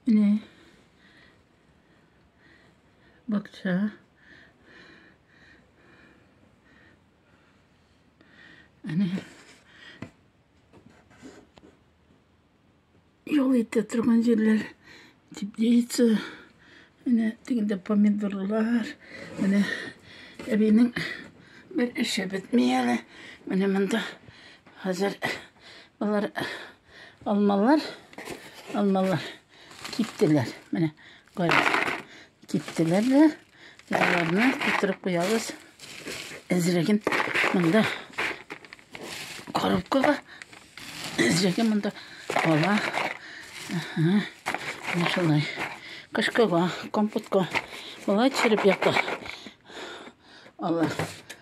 Менә бакча. Әнә юл итә торган җирләр теплица. Менә тегендә помидорлар. Менә әбинең бер эше бетми әле. Менә монда хәзер алар Алмалар, алмалар киптеләр. Менә кара. Киптеләр дә. Аларны китереп куябыз. Әзрәген монда коробкага. Әзрәген монда ала. Ага. Менә шулай. Кышкыга, компотка. Болай чиреп ята. Алар.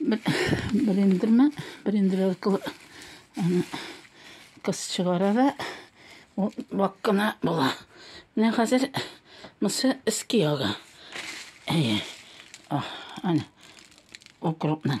Блендермен, блендер аркылы аны кыз чыгара да ул вак кына була. Менә хәзер мысы эске яга. Әйе. Ах, аны укропның.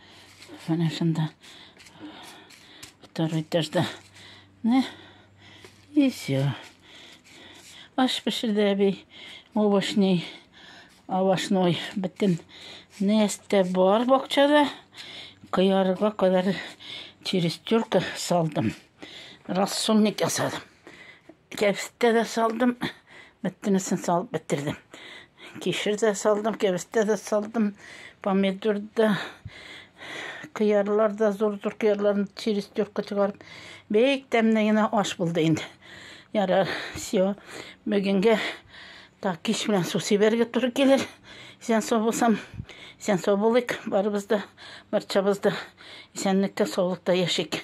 Менә шунда второй этажда. Менә. И все. Аш пешерде әби. Овощный, овощной бөтен нәрсә бар бакчада. Кыярга кадәр через тюрка салдым. Рассольник ясадым. Кәбестә дә салдым. Бөтенесен салып бетердем. Кишер дә салдым, кәбестә дә салдым. Помидор да, кыярлар да, зур-зур кыярларны через төркө чыгарып. Бик тәмле генә аш булды инде. Ярар, все. Бүгенге так кич белән су сибәргә туры килер. Исән сау булсам, исән сау булыйк. Барыбыз да, барчабыз да исәнлектә, саулыкта яшик.